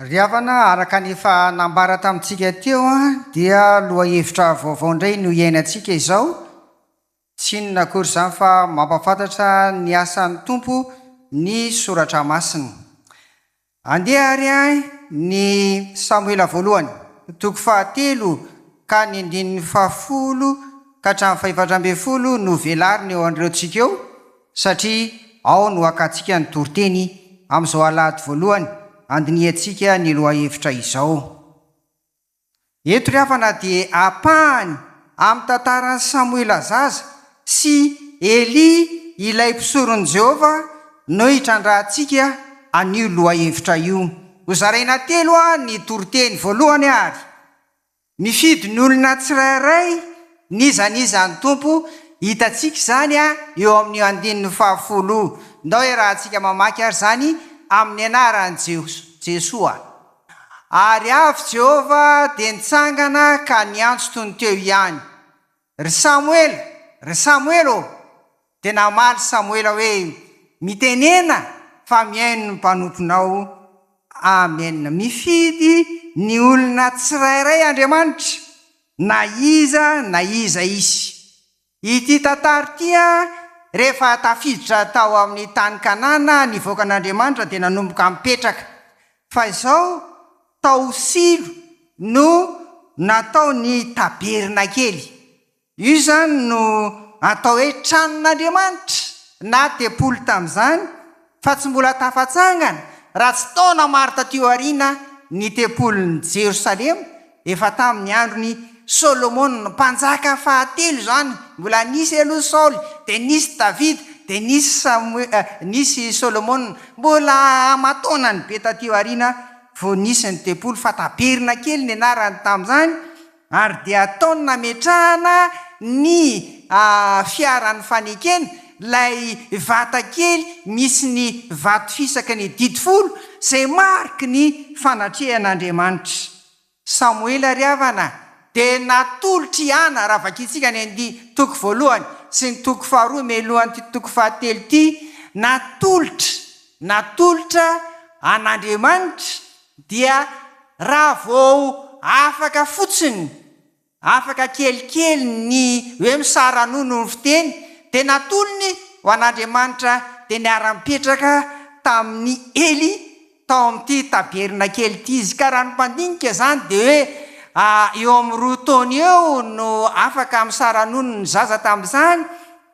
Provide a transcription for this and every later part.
Ry havana, araka ny efa nambara tamintsika teo dia lohahevitra vaovao indray no iainantsika izao, tsy inona akory izany fa mampahafantatra ny asan'ny Tompo ny Soratra Masina. Andeha àry ny Samoela Voalohany, toko fahatelo ka ny andininy fahafolo ka hatramin'ny fahefatra ambin'ny folo no velarina eo andraotsika eo, satria ao no hakantsika ny toriteny amin'izao alahady voalohany handinihantsika ny lohahevitra izao. Eto ry havana dia ampahany amin'ny tantaran'i Samoela zaza sy Elia ilay mpisoron'i Jehovah no hitrandrahantsika an'io lohahevitra io. Hozaraina telo ny toriteny. Voalohany ary, mifidy ny olona tsirairay n'iza n'iza ny Tompo. Hitantsika izany eo amin'io andininy fahafolo io. Ndao iarahantsika mamaky ary izany amin'ny anaran'i Jesoa. Ary avy Jehovah dia nitsangana ka niantso toy ny teo ihany, Ry Samoela, ry Samoela ô! Dia namaly Samoela hoe, Mitenena, fa mihaino ny mpanomponao. Amen. Mifidy ny olona tsirairay Andriamanitra, na iza na iza izy. Ity tantara ity an, rehefa tafiditra tao amin'ny tany Kanana ny vahoakan'Andriamanitra dia nanomboka mipetraka. Fa izao tao Silo no natao ny tabernakely. Io izany no atao hoe tranon'Andriamanitra na tempoly tamin'izany. fa tsy mbola tafatsangana raha tsy taona maro taty aoriana ny tempolin'i Jerosalema, efa tamin'ny andron'i Solomona mpanjaka fahatelo izany, mbola nisy aloha Saoly, dia nisy Davida, dia nisy Samoe, nisy Solomona, mbola aman-taonany be taty aoriana vao nisy ny tempoly, fa taberina kely ny anarany tamin'izany, ary dia ataony nametrahana ny fiaran'ny fanekena, ilay vata kely misy ny vato fisaky ny didy folo izay mariky ny fanatrehan'Andriamanitra. Samoela ry havana a! dia natolotr'i Ana, raha vakintsika ny andiany toko voalohany sy ny toko faharoa mialohan'ity toko fahatelo ity, natolotra, natolotra an'Andriamanitra Dia raha vao afaka fotsiny, afaka kelikely ny hoe misara-nono ny fiteny, dia natolony ho an'Andriamanitra dia niara-nipetraka tamin'i Ely tao amin'ity tabernakely ity izy. Ka raha ny mpandinika izany dia hoe eo amin'ny roa taona eo no afaka misara-nono ny zaza tamin'izany,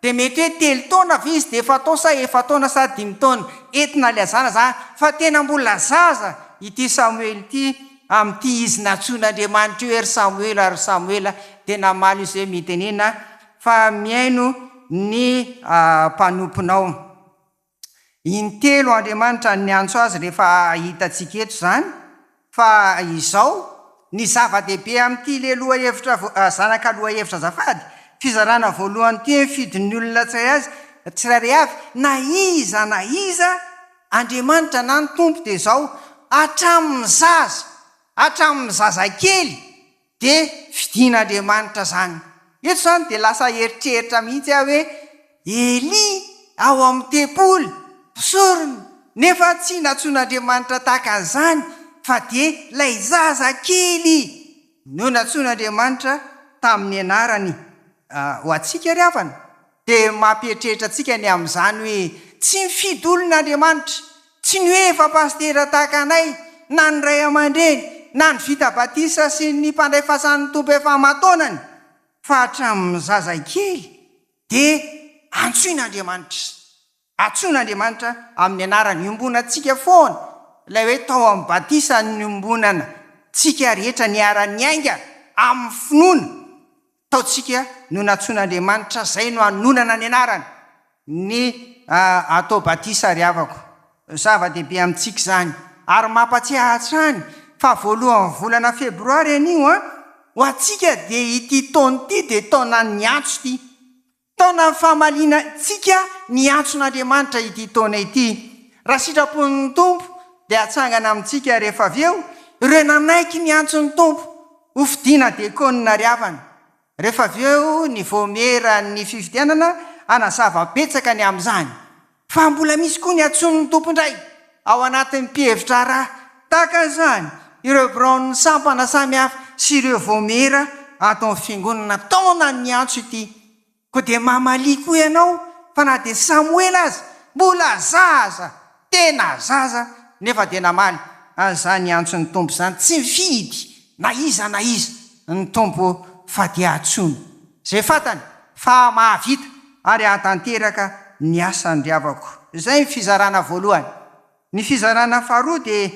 Dia mety hoe telo taona ve izy dia efa atao sa efa-taona sa dimy taona? Entina ilazana izany fa tena mbola zaza ity Samoela ity amin'ity izy nantsoin'Andriamanitra hoe ry Samoela ry Samoela dia namaly izy hoe mitenena fa mihaino ny mpanomponao. Intelo Andriamanitra niantso azy rehefa hitantsika eto izany, fa izao, ny zava-dehibe amin'ity ilay lohahevitra zanaka lohahevitra azafady, fizarana voalohany ity ny fidin'ny olona tsirairay avy, na iza na iza, Andriamanitra na ny Tompo dia izao, hatramin'ny zaza, hatramin'ny zazakely, dia fidin'Andriamanitra izany. Eto izany dia lasa eritreritra mihitsy aho hoe Elia ao amin'ny tempoly, mpisorona, nefa tsy nantsoin'Andriamanitra tahaka an'izany fa dia ilay zaza kely no nantsoin'Andriamanitra tamin'ny anarany. Ho antsika ry havana, dia mampieritreritra antsika ny amin'izany hoe tsy mifidy olona Andriamanitra. Tsy ny hoe efa pasitera tahaka anay, na ny ray aman-dreny, na ny vita batisa sy ny mpandray fasan'ny Tompo efa aman-taonany, fa hatramin'ny zazakely dia antsoin'Andriamanitra. Antsoin'Andriamanitra amin'ny anarany iombonantsika foana, ilay hoe tao amin'ny batisa niombonantsika rehetra niara-niainga amin'ny finoana. Taontsika no nantsoin'Andriamanitra, izay no anonana ny anarany, ny atao batisa ry havako. Zava-dehibe amintsika izany. Ary mampatsiahy hatrany fa voalohan'ny volana febroary anio, ho antsika dia ity taona ity dia taonan'ny antso ity. Taonan'ny famaliantsika ny antson'Andriamanitra ity taona ity. Raha sitrapon'ny Tompo dia hatsangana amintsika rehefa avy eo ireo nanaiky ny antson'ny Tompo ho fidiana diakonina ary havana. Rehefa avy eo ny vaomieran'ny fifidianana hanazava betsaka ny amin'izany. Fa mbola misy koa ny antsoin'ny tompondray ao anatin'ny mpihevi-draharaha tahaka izany ireo biraon'ny sampana samihafa sy ireo vaomiera ato amin'ny fiangonana taona niantso ity. Koa dia mamalia koa ianao fa na dia Samoela aza mbola zaza, tena zaza, nefa dia namaly an'izany antson'ny Tompo izany tsy mifidy na iza na iza ny Tompo fa dia antsoiny. Izay fantany fa mahavita ary hahatanteraka ny asan-dry havako. Izay ny fizarana voalohany. Ny fizarana faharoa dia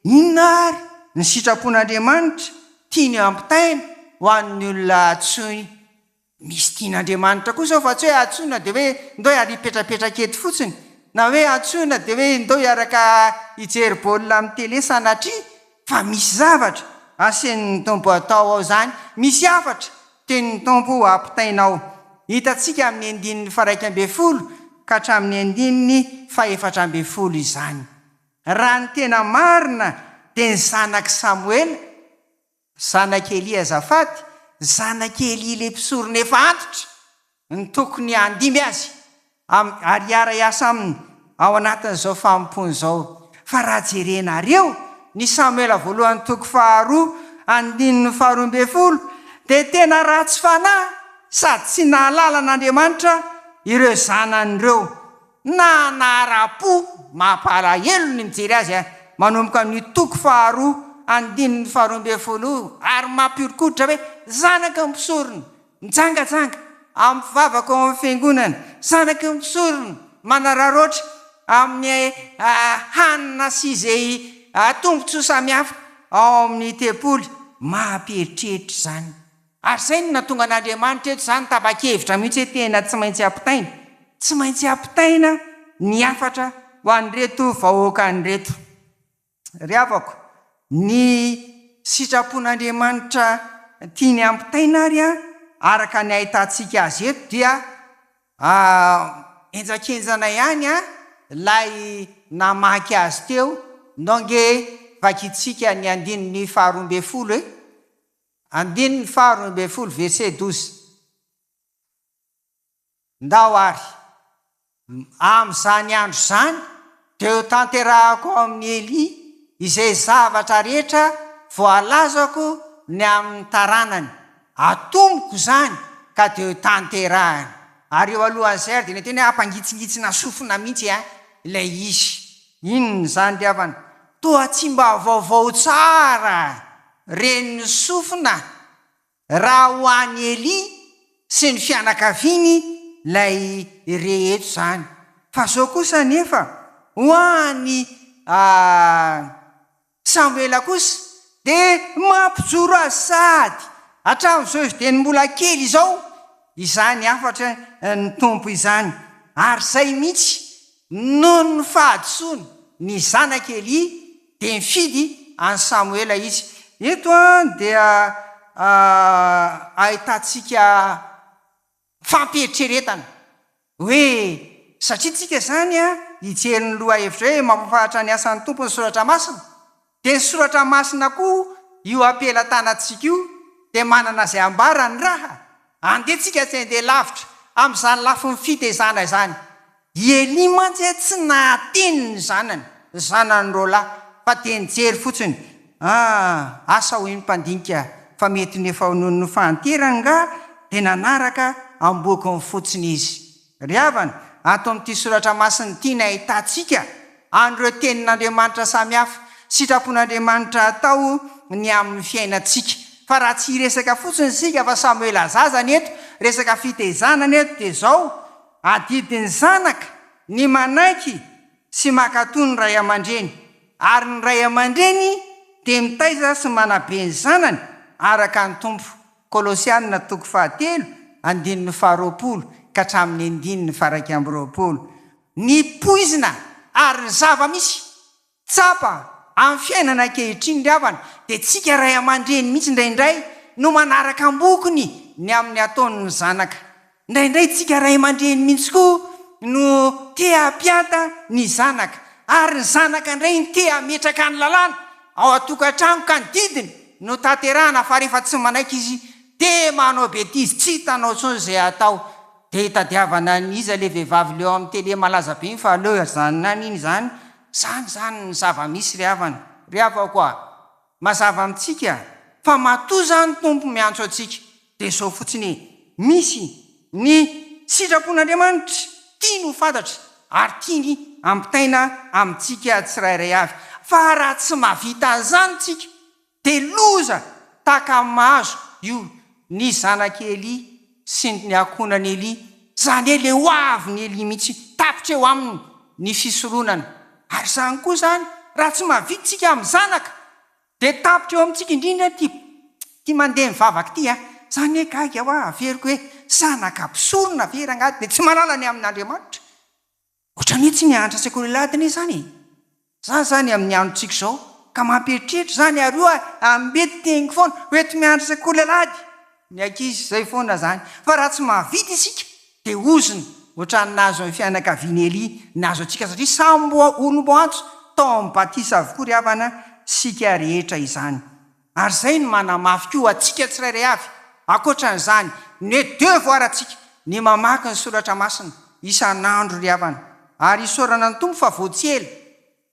inona ary ny sitrapon'Andriamanitra tiany hampitaina ho an'ny olona antsoiny. Misy tian'Andriamanitra koa izao fa tsy hoe antsoina dia hoe ndao hiara hipetrapetraka eto fotsiny, na hoe antsoina dia hoe ndao hiaraka hijery baolina amin'ny tele sanatria Fa misy zavatra asen'ny Tompo atao ao izany, misy hafatra tenin'ny Tompo ampitaina ao. Hitantsika amin'ny andininy faraika ambin'ny folo ka hatramin'ny andininy fahefatra ambin'ny folo izany. Raha ny tena marina dia ny zanak'i Samoela, zanak'i Elia azafady, zanak'i Elia ilay mpisorona efa antitra. ny tokony handimby azy amin'ny ary hiara-hiasa aminy ao anatin'izao fanompoana izao. Fa raha jerenareo ny Samoela voalohany toko faharoa andininy faharoa ambin'ny folo dia tena ratsy fanahy sady tsy nahalala an'Andriamanitra ireo zanany ireo na nahara-po. Mampalahelo ny mijery azy a! Manomboka amin'io toko faharoa andininy faharoa ambin'ny folo io ary mampiorikoditra hoe zanaka mpisorona Mijangajanga amin'ny vavaka ao amin'ny Fiangonana, zanaky ny mpisorona, manararaotra amin'ny hanina sy izay tombontsoa samihafa ao amin'ny tempoly. Mampieritreritra izany. Ary izay no nahatonga an'Andriamanitra eto izany tapa-kevitra mihitsy hoe tena tsy maintsy ampitaina. Tsy maintsy ampitaina ny hafatra ho an'ireto vahoakany ireto. Ry havako, ny sitrapon'Andriamanitra tiany hampitaina ary araka ny ahitantsika azy eto dia henjakenjana ihany ilay namaky azy teo, ndao ange vakintsika ny andininy faharoa ambin'ny folo e! Andininy faharoa ambin'ny folo verset douze. Ndao ary, amin'izany andro izany, dia hotanterahako ao amin'i Elia izay zavatra rehetra voalazako ny amin'ny taranany. Atomoko izany ka dia hotanterahany. Ary eo alohan'izay ary dia nety hoe hampangitsingitsina sofina mihitsy ilay izy. Inona izany ry havana? Toa tsy mba vaovao tsara ren'ny sofina Raha ho an'i Elia sy ny fianakaviany ilay re eto izany. Fa izao kosa anefa, ho an'i Samoela kosa dia mampijoro azy sahady hatramin'izao izy dieny mbola kely izao izany hafatra ny Tompo izany. Ary izay mihitsy, noho ny fahadisoany ny zanak'i Elia, dia nifidy an'i Samoela izy. Eto dia ahitantsika fampieritreretana hoe, satria tsika izany hijery ny lohahevitra hoe mampahafantatra ny asan'ny Tompo ny Soratra Masina, dia ny Soratra Masina koa io ampelatanantsika io dia manana izay ambarany raha andeha tsika tsy handeha lavitra amin'izany lafiny fitezana izany. I Elia mantsy tsy nahateny ny zanany, ny zanany roalahy, fa dia nijery fotsiny. Ah, asa hoy ny mpandinika fa mety ny efa noho ny fahanterany angaha dia nanaraka am-bokony fotsiny izy. Ry havana, ato amin'ity soratra masina ity ny ahitantsika an'ireo tenin'Andriamanitra samihafa. Sitrapon'Andriamanitra atao ny amin'ny fiainantsika. Fa raha tsy hiresaka fotsiny isika fa samy ho ela zaza ny eto, resaka fitaizana ny eto dia izao, Adidy ny zanaka ny manaiky sy mankatò ny ray aman-dreny, ary ny ray aman-dreny dia mitaiza sy manabe ny zanany araka ny Tompo, Kolosiana toko fahatelo andininy faharoapolo ka hatramin'ny andininy faha-iraika amby roapolo. Ny poizina ary ny zava-misy. Tsapa, amin'ny fiainana ankehitriny ry havana dia tsika ray aman-dreny mihitsy indraindray no manaraka am-bokony ny amin'ny ataon'ny zanaka. Indraindray tsika ray aman-dreny mihitsy koa no te hampianta ny zanaka, ary ny zanaka indray no te hametraka ny lalàna ao an-tokantrano ka ny didiny no tanterahana fa rehefa tsy manaiky izy dia manao betizy, tsy hitanao intsony izay atao dia hitadiavana an'iza ilay vehivavy leo amin'ny tele malaza be iny fa aleo ajanona any iny izany Izany izany ny zava-misy ry havana. Ry havako a! Mazava amintsika fa matoa izany Tompo miantso antsika dia izao fotsiny e! Misy ny sitrapon'Andriamanitra tiany ho fantatra ary tiany hampitaina amintsika tsirairay avy. Fa raha tsy mahavita an'izany tsika De loza taka mazo io ny zanak'i Elie sy ny akonan'i Elie, zany hoe le hoavin'i Elie mihitsy tapitra eo aminy ny fisoronana, ary zany koa zany raha tsy mahavita tsika amin'ny zanaka de tapitra eo amintsika indrindra ty ty mandeha mivavaka ty a, zany hoe gaga hoa averiko hoe zanaka mpisorona ve rangahy de tsy manala ny amin'Andriamanitra? Otra mihitsy ny hanitra sekoly ladina izany e! Za izany amin'ny andro tsika izao ka mampieritreritra izany ary oa ambeto teniko foana ho eto mianatra sekoly alahady ny ankizy izay foana izany fa raha tsy mahavita isika de ozona otrany nahazo ny fianakavian'i Elia nahazo antsika satria samy mbola olom-boantso tao amin'ny batisa avokoa ry havana isika rehetra izany Ary izay no manamafy koa ho antsika tsirairay avy, ankoatra an'izany, ny hoe devoir antsika ny mamaky ny soratra masina isan'andro ry havana. Ary isaorana ny Tompo fa vao tsy ela,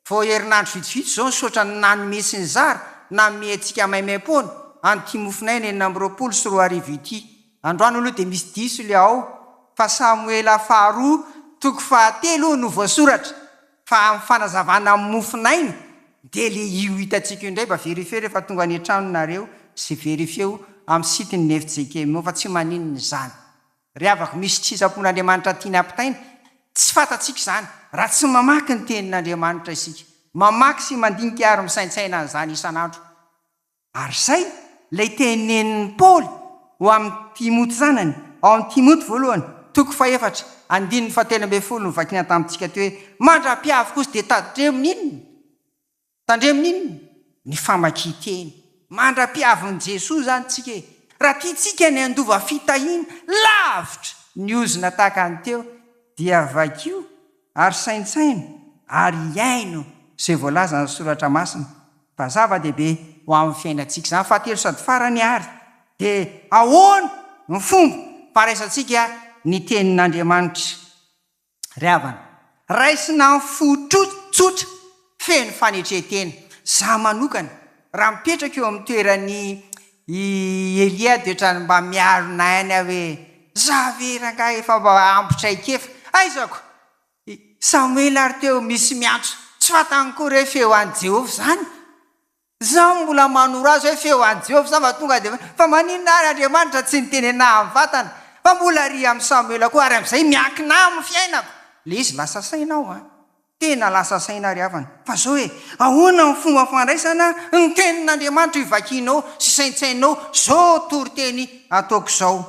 vao herinandro vitsivitsy izao nisaotra ny nanome sy nizara, nanome antsika maimaimpoana an'ity mofonaina enina amby roapolo sy roa arivo ity. Androany aloha dia misy diso le ao fa Samoela faharoa toko fahatelo no voasoratra. Fa amin'ny fanazavana amin'ny mofon'aina dia le io hitantsika io indray mba verifier rehefa tonga any an-trano nareo sy verifier-o amin'ny site ny fjkm-o fa tsy maninona izany ry havako misy sitrapon'Andriamanitra tiany hampitaina tsy fantatsika izany raha tsy mamaky ny tenin'Andriamanitra isika mamaky sy mandinika ary misaintsaina an'izany isan'andro Ary izay ilay tenenin'i Paoly ho amin'i Timoty zanany, ao amin'i Timoty voalohany, toko fahefatra, andininy fahatelo ambin'ny folo no vakina tamintsika aty hoe, Mandra-piavy kosa dia tandremo ny inona? Tandremo ny inona? Ny famakian-teny. Mandra-piavin'i Jesoa izany isika e! Raha tiantsika ny handova fitahiana lavitra ny ozona tahaka ny teo dia vakio ary saintsaino ary iaino izay voalazan'ny Soratra Masina Fa zava-dehibe ho amin'ny fiainantsika izany. Fahatelo sady farany àry, dia ahoana no fomba fandraisantsika ny Tenin'Andriamanitra? Ry havana, raisina amin'ny fo tsotra, feno fanetren-tena. Izaho manokana, raha mipetraka eo amin'ny toeran'i Elia, dia ohatran'ny mba miaro nainy aho hoe, 'Izaho ve rangahy efa mba ampy traikefa? Aizako I Samoela ary teo misy miantso, tsy fantany koa re feo an'i Jehovah izany. Izaho no mbola manoro azy hoe feo an'i Jehovah izany fa tonga dia hoe, fa maninona ary Andriamanitra tsy niteny anahy amin'ny vatana? Fa mbola ry amin'i Samoela koa ary amin'izay miankina amin'ny fiainako. Ilay izy lasa saina aho an! Tena lasa saina ry havana. Fa izao e, ahoana ny fomba fandraisana ny tenin'Andriamanitra io vakinao sy saintsainao izao toriteny ataoko izao?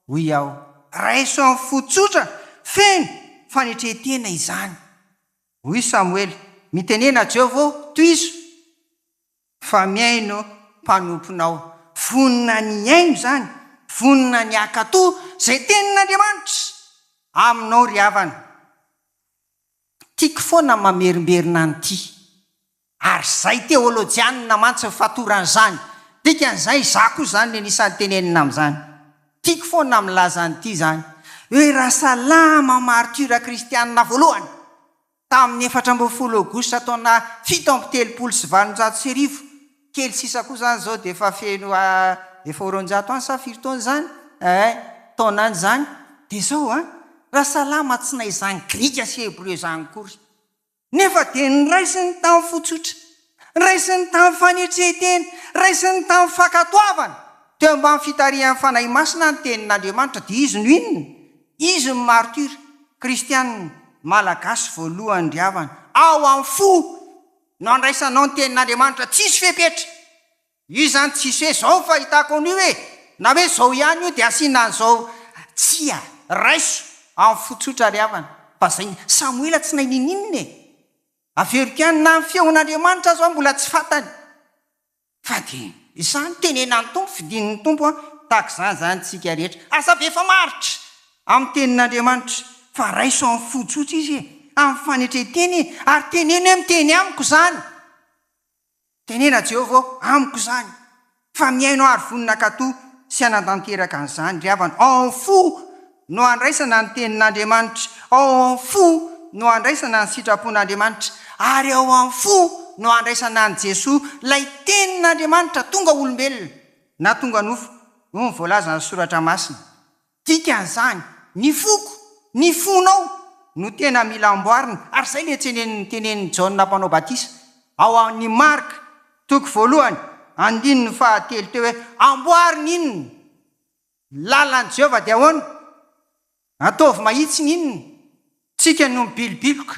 Hoy aho, Raiso amin'ny fo tsotra, feno fanetren-tena izany. Hoy Samoela, Mitenena Jehovah ô, tohizo, fa mihaino mpanomponao. Vonona ny hihaino izany, vonona ny hankatò izay tenin'Andriamanitra aminao ry havana. Tiako foana mamerimberina an'ity. Ary izay teolojianina mantsy ny fatoran'izany. Dikan'izay, izaho koa izany ny anisan'ny tenenina amin'izany. Tiako foana ny milaza an'ity izany, hoe raha salama martiora kristianina voalohany, tamin'ny efatra ambin'ny folo aogositra taona fito amby telopolo sy valonjato sy arivo, kely sisa koa izany izao dia efa feno efa ho roanjato any sa firy taona izany eh, taona any izany, dia izao an, raha salama tsy na izany grika sy hebreo izany akory, Nefa dia noraisiny tamin'ny fo tsotra, noraisiny tamin'ny fanetrentena, noraisiny tamin'ny fankatoavana, teo ambany fitarihan'ny Fanahy Masina ny Tenin'Andriamanitra, dia izy no inona? Izy no martyr kristiana malagasy voalohany ry havana, ao amin'ny fo no andraisanao ny Tenin'Andriamanitra tsisy fepetra. Io izany tsisy hoe zao no fahitako an'io e! na hoe zao ihany io dia asiana an'izao tsia! raiso amin'ny fo tsotra ry havana fa zay ny Samoela tsy nahay ninininina e! averiko ihany na ny feon'Andriamanitra aza aho mbola tsy fantany fa dia izany tenenan'ny Tompo fidin'ny Tompo an! tahaka izany izany tsika rehetra aza avy efa maharitra amin'ny tenin'Andriamanitra fa raiso amin'ny fo tsotra izy e! amin'ny fanetren-teny e! ary teneno hoe miteny amiko izany Tenena Jehovah ô, amiko izany, fa mihaino aho ary vonona hankatò sy hanantanteraka an'izany ry havana. Ao amin'ny fo no handraisana ny Tenin'Andriamanitra, ao amin'ny fo no handraisana ny sitrapon'Andriamanitra, ary ao amin'ny fo no handraisana an'i Jesoa, ilay Tenin'Andriamanitra tonga olombelona, na tonga nofo, hoy ny voalazan'ny Soratra Masina. Dikan'izany, ny foko, ny fonao no tena mila amboarina, ary izay ilay tsenen'ny tenenin'i Jaona Mpanao Batisa ao amin'ny Marka toko voalohany andininy fahatelo teo hoe, Amboary ny inona? Ny lalan'i Jehovah dia ahoana? Ataovy mahitsy ny inona? Tsika no mibilobiloka,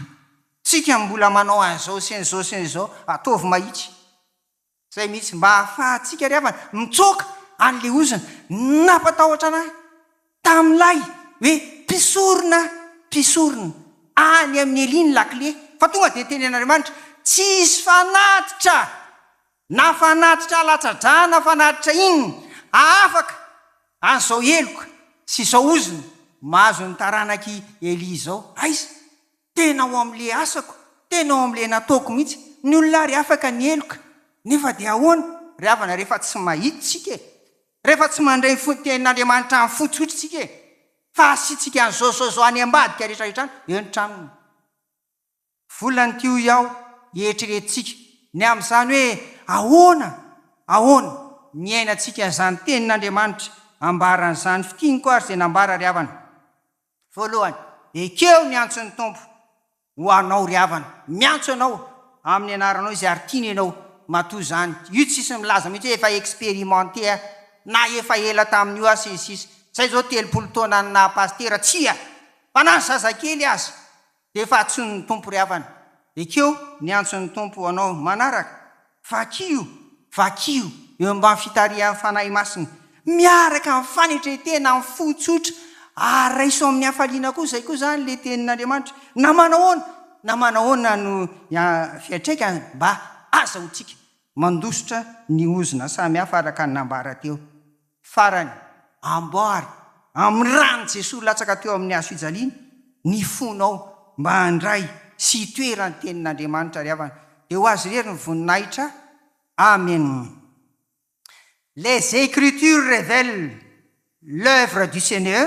tsika no mbola manao an'izao sy an'izao sy an'izao, ataovy mahitsy. Izay mihitsy, mba ahafahantsika ry havana mitsoaka an'ilay ozona nampatahotra anay tamin'ilay hoe mpisorona mpisorona any amin'i Elia ny lakile, fa tonga dia niteny an'Andriamanitra, tsy hisy fanatitra na fanatitra alatsa-drà na fanatitra inona hahafaka an'izao heloka sy izao ozona mahazo ny taranak'i Elia izao. Aiza? tena ao amin'le asako, tena ao amin'le nataoko mihitsy, ny olona ary afaka ny heloka, nefa dia ahoana ry havana rehefa tsy mahita isika e! rehefa tsy mandre ny fontenin'Andriamanitra any fotsy otra isika e! fa asiantsika an'izao zao zao any ambadika rehetra rehetra any, eo ny tranony, volany ty hoy aho, eritreretintsika ny amin'izany hoe ahoana, ahoana ny iainantsika izany tenin'Andriamanitra ambaran'izany fitianiko ary izay nambara ry havana. Voalohany, ekeo ny antson'ny Tompo ho anao ry havana, miantso anao amin'ny anaranao Izy ary tiany ianao, matoa izany io tsisy milaza mihitsy hoe efa expérimenté aho na efa ela tamin'io aho sy ny sisa, izay izao telopolo taona any naha pasitera, tsia! fa na ny zazakely aza. Efa antsoin'ny Tompo ry havana. Ekeo ny antson'ny Tompo ho anao manaraka. Vakio! Vakio! Eo ambany fitarihan'ny Fanahy Masina. Miaraka amin'ny fanetren-tena amin'ny fo tsotra ary raiso amin'ny hafaliana koa. Izay koa izany ilay Tenin'Andriamanitra. Na manahoana na manahoana no fiantraikany, mba azahoantsika mandositra ny ozona samihafa araka ny nambara teo. Farany, amboary amin'ny ran'i Jesoa latsaka teo amin'ny hazo fijaliana ny fonao mba handray sy hitoera ny tenin'Andriamanitra ry havana dia ho Azy irery ny voninahitra Amen Les Ecritures révèlent l'œuvre du Seigneur.